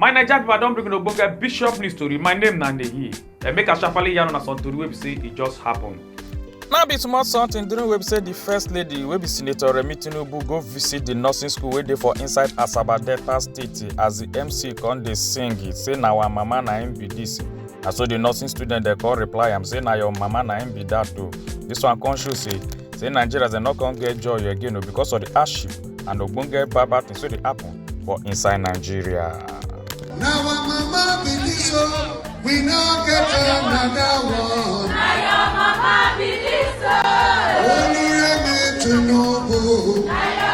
my naija pipo i don bring una ogbonge bishop news tori my name na nehi dem make i sharparly yarn una some tori wey be say e just happen. Now be small something during wey be say di first lady wey be senator remi tinubu go visit di nursing school wey dey for inside asaba delta state as di mc come dey sing say na our mama na im be dis na so the nursing student dey come reply am say na your mama na im be that o this one come show say say nigerians dem no come get joy again o because of the hardship and ogbonge bad bad things wey dey happen for inside nigeria. na our mama be this o we no get another one. na your mama be this o. olùrẹ̀mí tinubu. na your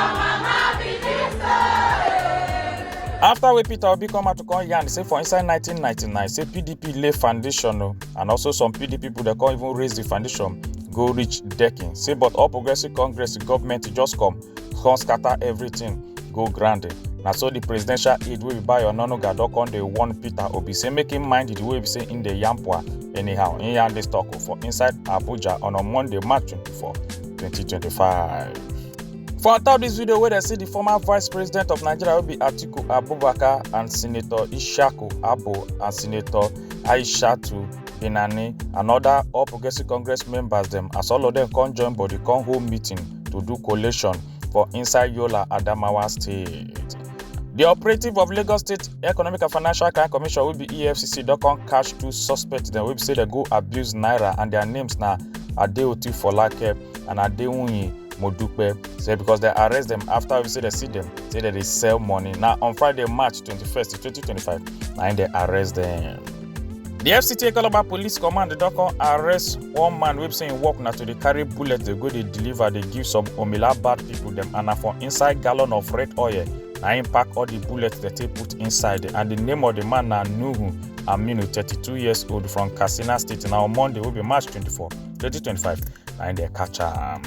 after wey peter obi come out to come yarn say for inside 1999 say pdp lay foundation o and also some pdp people dey come even raise the foundation go reach decking say but all progressive congress government just come come scatter everything go ground na so the presidential aide wey be bayo onanuga don come dey warn peter obi say make him mind the way be say him dey yarn poa anyhow him yarn this talk o for inside abuja on a monday march 24 2025. For on top dis video wey dem see di former vice president of Nigeria wey be Atiku Abubakar and Senator Ishaku Abo and Senator Aishatu Binani and other All Progressive Congress members dem as all of dem come join body come hold meeting to do collation for inside Yola Adamawa state. Di operative of Lagos State Economic and Financial Crime Commission wey be EFCC don come catch two suspects dem wey be say dem go abuse naira and their names na Adeoti Folake and Adewunyi Modupe say because dem arrest dem after we say dem see dem say dem dey sell money. Na on Friday, March 21st, 2025, na im dem arrest dem. The FCT Calabar Police Command don come arrest one man wey be say im work na to dey carry bullet dey go dey deliver dey give some Omila bad people dem and na for inside gallon of red oil na im pack all the bullets dem take put inside and the name of the man na Nuhu Aminu, 32 years old from Katsina State na on Monday wey be March 24 2025 na im dey catch am.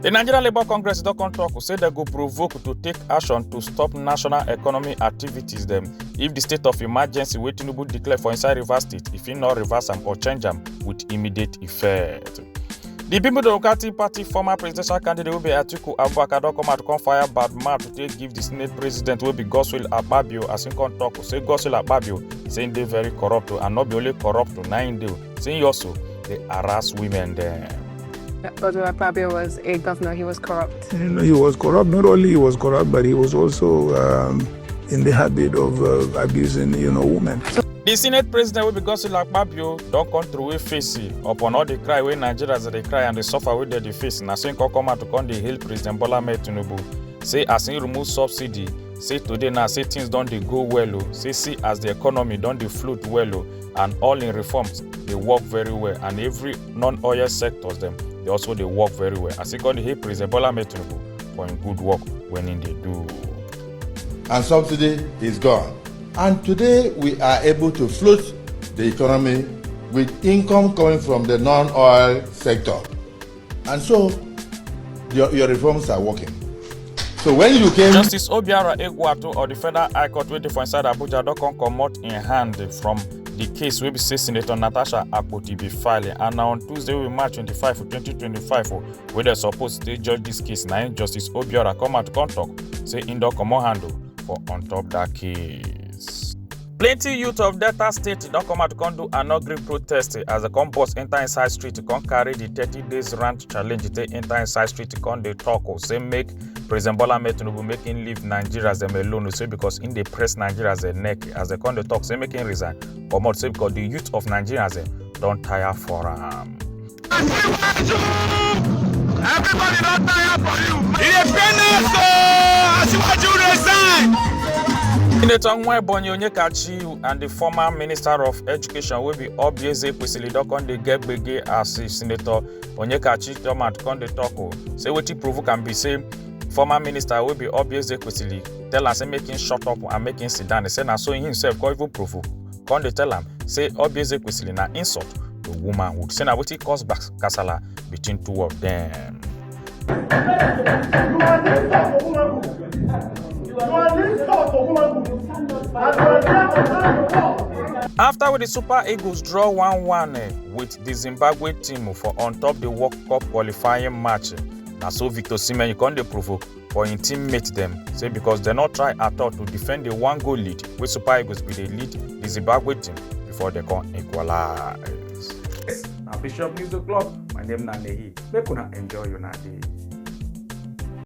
The Nigeria Labour Congress don come talk say dem go provoke to take action to stop national economy activities dem if the state of emergency wey Tinubu declare for inside Rivers State if e no reverse am or change am with immediate effect. di people democratic party former presidential candidate wey be atiku abubakar don come out come fire bad mouth to take give di senate president wey be godswill akpabio as him come tok say godswill akpabio say him dey very corrupt and not be only corrupt na him dey say him also dey harass women dem. Godswill Akpabio was a governor, he was corrupt. You know, he was corrupt. Not only he was corrupt, but he was also um, in the habit of uh, abusing, you know, women. di senate president wey be godswill akpabio don come throway face upon all di cry wey nigerians dey cry and di suffer wey dem dey face na so im come come out to come dey hail president bola ahmed tinubu say as im remove subsidy say today now say things don dey go well o say see as di economy don dey float well o and all im reforms dey work very well and every non-oil sectors dem dey also dey work very well as im come dey hail president bola ahmed tinubu for im good work wey im dey do. and subsidy is gone. And today we are able to float the economy with income coming from the non-oil sector. And so your, your reforms are working. So when you came... Justice Obiara Egwuatu of the Federal High Court wey dey for inside Abuja don come comot im hand from the case wey be say Senator Natasha Akpoti be filing and na on Tuesday wey be March 25, 2025 wey dem suppose take judge dis case na im Justice Obiara come out come talk. say im don comot handle for on top dat case. plenty youth of delta state don come out to come do anogri protest as dem come burst enter inside street to come carry the thirty days rant challenge take enter inside street to come dey talk o say make president bola ahmed tinubu make im leave nigerians dem alone o say because im dey press nigerians dem neck as dem come dey talk say make im resign comot say because the youth of nigerians dem don tire for am. Aṣíwájú! Everybody don tire for you. E dey pain us o! Aṣíwájú resign! Senator Nwa Ebonyi Onyekachi and the former Minister of Education wey be Obieze Kwesili don come dey get gbege as the Senator Onyekachi come out come dey talk o. Say wetin provoke am be say former minister wey be Obieze Kwesili tell am say make him shut up and make him sit down. He say na so him himself come even provoke come dey tell am say obieze kwesili na insult to womanhood say na wetin cause gbas- kasala between two of dem. You are the insult to womanhood. You are the insult to womanhood. And you are there to tell the world. afta wey di super eagles draw 1-1 eh, wit di zimbabwe team for on top di world cup qualifying match eh, na so victor osimhen come dey provoke for im teammates dem say because dem no try at all to defend di one goal lead wey super eagles bin dey lead di zimbabwe team before dem come equalise. Yes, na Bishop News O'Clock. My name na Nehi. Make una enjoy una day.